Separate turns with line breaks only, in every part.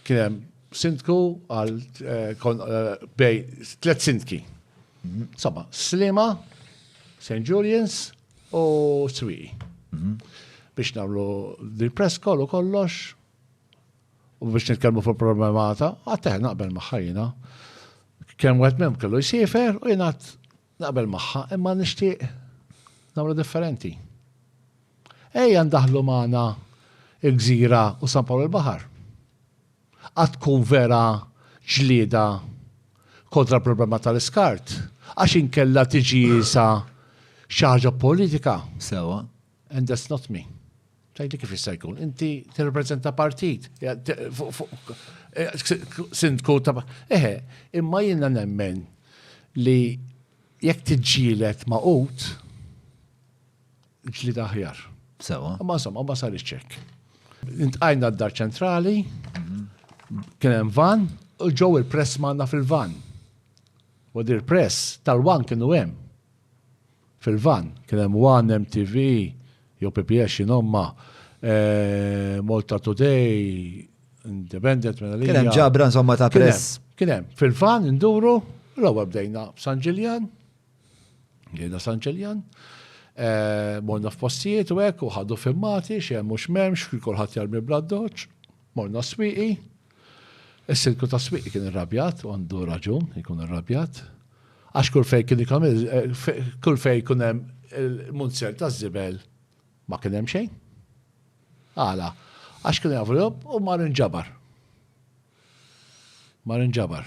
kien hemm sindku għal eh, kon- eh, bej tliet sindki. Insomma, Slima, St. Julian's u Swiqi. Biex nagħmlu din press call u kollox u biex nitkellmu fuq problemata, għatteħ naqbel maħħajna. Kemm wieħed mem kellu jsifer u jingħad Naqbel magħha, imma nixtieq nagħmlu differenti. Ejja ndaħlu magħna il-Gżira u San Pawl il-Baħar. Għad tkun vera ġlieda kontra l-problema tal-iskart, għax inkella tiġi jisa xi ħaġa politika. Sewwa. And that's not me. Tajli kif jista' jkun? Inti tirrepreżenta partit. Eh, sindku ta' eħe, imma jiena nemmen li jekk tiġġielet ma' ut, ġli daħjar. Sewa. Ma' insomma, ma' sar iċċek. Intqajna d-dar ċentrali, kien hemm van, u ġew il-press manna fil-van. U dir press tal-wan kienu hemm. Fil-vann kien hemm one, MTV, jew PBS x'inhomma, Malta Today, Independent minn għalija. Kien hemm ġabra insomma ta' press. Kien hemm. Fil-vann induru, l-ewwel bdejna f'San Ġiljan, bdejna San Ġiljan, morna f'postijiet u hekk u ħadu filmati x'hemm u x'm'hemmx, kulħadd jarmi bl-addoċċ, morna s-swieqi. Is-Sindku tas-Swieqi kien irrabjat u għandu raġun ikun irrabjat għax kull fejn kien ikun kull fejn ikun hemm il-munzer taż-żibel ma kien hemm xejn. Għala, għax kien jafu u mar inġabar. Mar inġabar.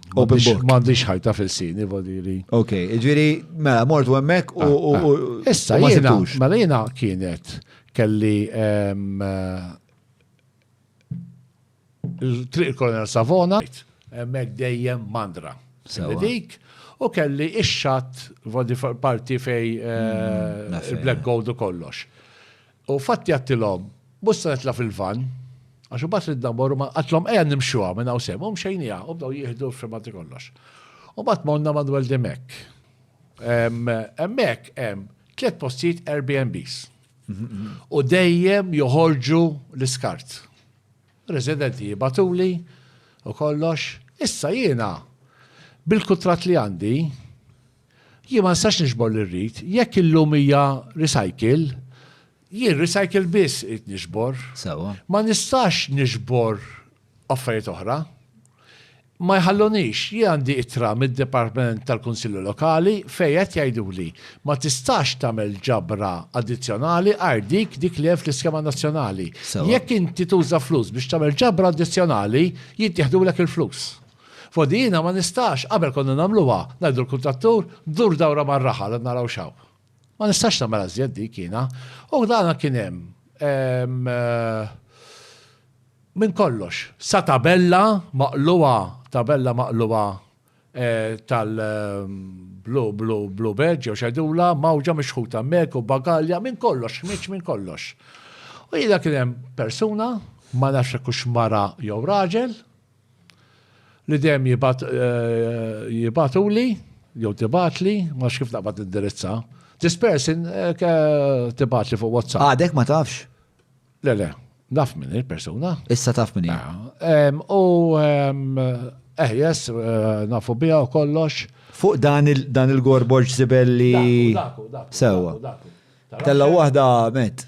Open book. M'għandix ħajta fil-sini, vodiri. Ok, ġviri, mela, mort u emmek u. Ah, ah. Issa, jena, mela jena kienet kelli ehm, eh, il-triq kolonel Savona, emmek dejjem mandra. Dik, u kelli ix-xat parti fej eh, mm, il-Black Gold u kollox. U fatti għattilhom, Mhux se nitla' fil-vann, għax imbagħad ridna mmorru ma' għattilhom ejja nimxuha minn hawn sew, u mxejnieha, u bdew jieħdu l-filmati kollox. U mbagħad morna Manuel de Mec. Hemmhekk hemm tliet postijiet Airbnbs. U dejjem joħorġu l-iskart. Residenti jibgħatuli u kollox. Issa jiena bil-kuntratt li għandi, Jien ma nistax niġbor li rrid. Jekk illum hija recycle, jien recycle biss qed niġbor. Sewa. Ma nistax niġbor affarijiet oħra. Ma jħallunix, jien għandi ittra mid-Dipartiment tal-Kunsilli Lokali fejn qed jgħiduli ma tistax tagħmel ġabra addizzjonali għajr dik dik li hemm fl-iskema nazzjonali. Jekk inti tuża flus biex tagħmel ġabra addizzjonali, jittieħdulek il-flus. F'Għodijina ma nistax, qabel konna nagħmluha, ngħidu l-kuntrattur, dur dawra mar-raħal u naraw x'hawn. Ma nistax nagħmel ażjed dik jiena. U dana kien hemm minn kollox. Sa tabella maqlugħa, tabella maqlugħa tal-Blue Badge jew x'għidulha, mgħawġa mixħuta mek u bagalja, minn kollox, ħmieġ minn kollox. U jiena kien hemm persuna, ma nafx jekk hux mara jew raġel, li dejjem jibgħat jibgħatuli jew tibgħatli, ma nafx kif naqbad nindirizza. This person tibgħatli fuq WhatsApp. Għadek ma tafx? Le, le, naf minn il-persuna. Issa taf minn hija. U eh, yes, nafu biha u kollox. Fuq dan il-gorboġ zibelli. Sewa. Tella waħda met.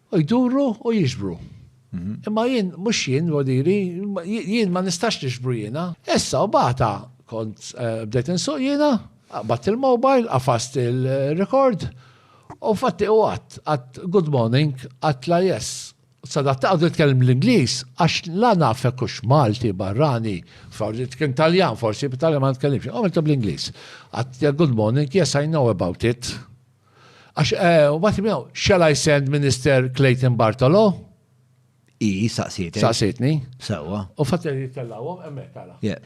Jduru u jiġbru. Imma jien, mhux jien, vodi jiri, jien ma nistax niġbru jiena. Issa u bata kont eh, bdejt insuq jiena, qabat il-mobile, qafast il-rekord, u fatti u għat, għat good morning, għat la yes. Sadat taqdu jitkellem l-Inglis, għax la nafek kux Malti, barrani, forsi tkun Taljan, forsi b'Taljan ma nitkellimx, għamiltu bl-Inglis. Għat good morning, yes I know about it. Għax, u bat miegħu, shall I send Minister Clayton Bartolo? I, saqsietni. Saqsietni. Sewa. U fatt li jittellawhom hemmhekk tara. Yeah.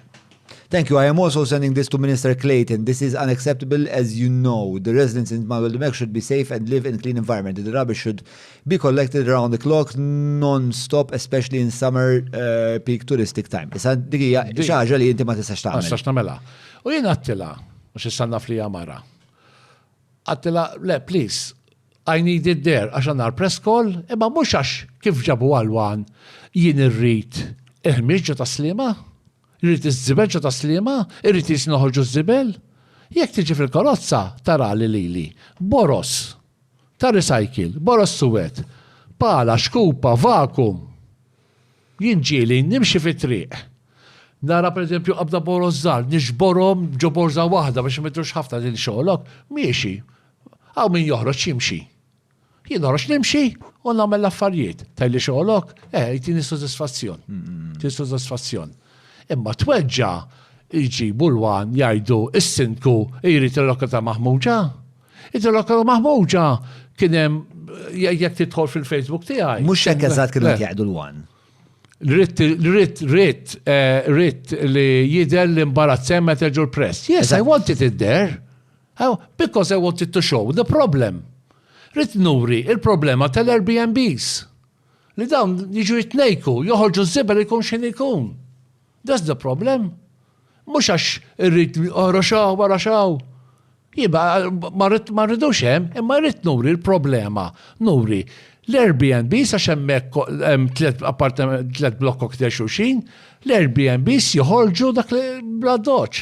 Thank you. I am also sending this to Minister Clayton. This is unacceptable as you know. The residents in Manuel Demek should be safe and live in clean environment. The rubbish should be collected around the clock non-stop, especially in summer uh, peak touristic time. Issa dikija xaġa li inti ma tistax tagħmel. Ma tistax tagħmelha. U jien għattila, mhux issa naf li mara. Għattilha, le, please, I need it there għax għandna l-press call, imma mhux għax kif ġabu għall-one jien irrid il-ħmieġ ġo tas-Sliema, irrid iż-żibel ġo tas-Sliema, irrid li noħorġu ż-żibel. Jekk tiġi fil-karozza tarali lili, boroż ta' recycle, boroż suwed, pala, xkupa, vakum. Jien ġieli nimxi fit-triq Nara pereżempju qabda boroż żgħar, niġborhom ġo borża waħda biex ma jidhrux ħafna lil xogħlok, miexi. Hawn min joħroġ jimxi. Jien noħroġ nimxi u nagħmel l-affarijiet. Tgħidli xogħlok? Eh, jtini sodisfazzjon. Jtini sodisfazzjon. Imma tweġġa' jġibu l-wan jgħidu is-sindku jrid il-lokata maħmuġa. Id lokata maħmuġa kien hemm jekk tidħol fil-Facebook tiegħi. Mhux hekk eżatt kienu jgħidu l-wan. Ritt, ritt, ritt, eh, ritt li jider li mbarat semmet ġur press. Yes, I wanted it there. Oh, because I wanted to show the problem. Ritt nuri il-problema tal-Airbnbs. Li dawn jiġu jitnejku, joħorġu z-zibel ikun xin ikun. That's the problem. Mhux għax irrid ora xaw, wara xaw. Jiba, ma rridux hemm, imma rrid nuri l-problema. Nuri l-Airbnb sa xemmek tlet appartament, tlet blokk kokter xuxin, l-Airbnb joħorġu dak bla doċ.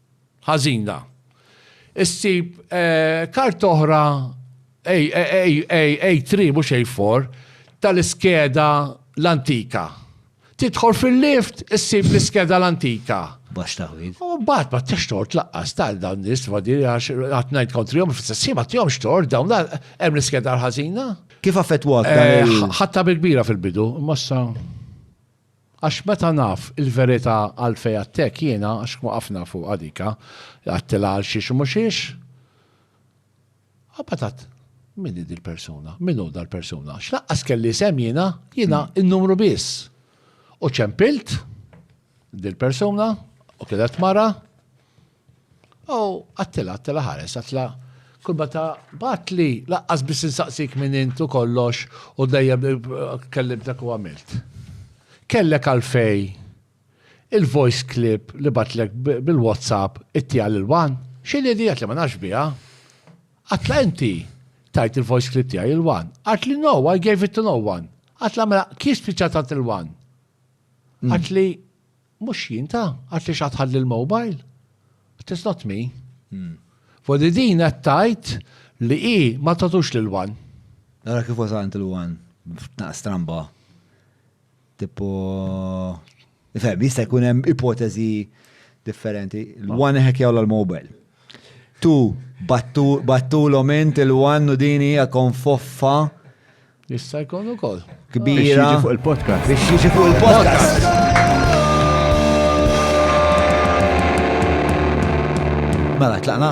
ħażina. Issib karta oħra A3 mhux A4 tal-iskeda l-antika. Tidħol fil-lift issib l-iskeda l-antika. Bax taħwid. U bat ma t tort laqqas tal dawn nis ma diri għax għatnajt kontri jom f-sessi ma t-jom xtort dawn hemm l-iskeda l-ħazina. Kif affettwak? Eh, ħatta bil-kbira fil-bidu, massa. Għax meta naf il-verità għalfejn għadtek jiena għax tkun qafna fuqha dika li għadtilha għal xiex u mhux xiex. Imbagħad għadt, Min hi dil-persuna? Min hu dal-persuna? Għax lanqas kelli isem jiena, jiena n-numru biss. U ċempilt dil-persuna u kienet mara. O, Attila, Attila ħares, Attila kull meta bat li laqqas biss insaqsik minn int u kollox u dejjem kellimtek u għamilt. Kellek għalfej il-voice clip li batlek bil-WhatsApp ittija lil Wan? X'inhi di Attila ma nafx biha. Attila inti tajt il-voice clip tiegħi lil Wan? Għad li no, I gave it to no one. Attila mela kif spiċċat għad lil Wan? Għad li Mhux jien ta, għad li x'għad ħalli l-mobile. It is not me. Hmm. Fodi din qed tgħid li hi ma tatux lil wan. Nara kif wasant il-wan f'tnaq stramba. Tipo Fem, jista' jkun hemm ipoteżi differenti. L-wan ħekjaw l-mobile. Tu, battulhom int il-one u din hija konfoffa. Jista' jkun ukoll. Kbira. Biex jiġi fuq il-podcast. Biex jiġi fuq il-podcast. Mela, tlaqna.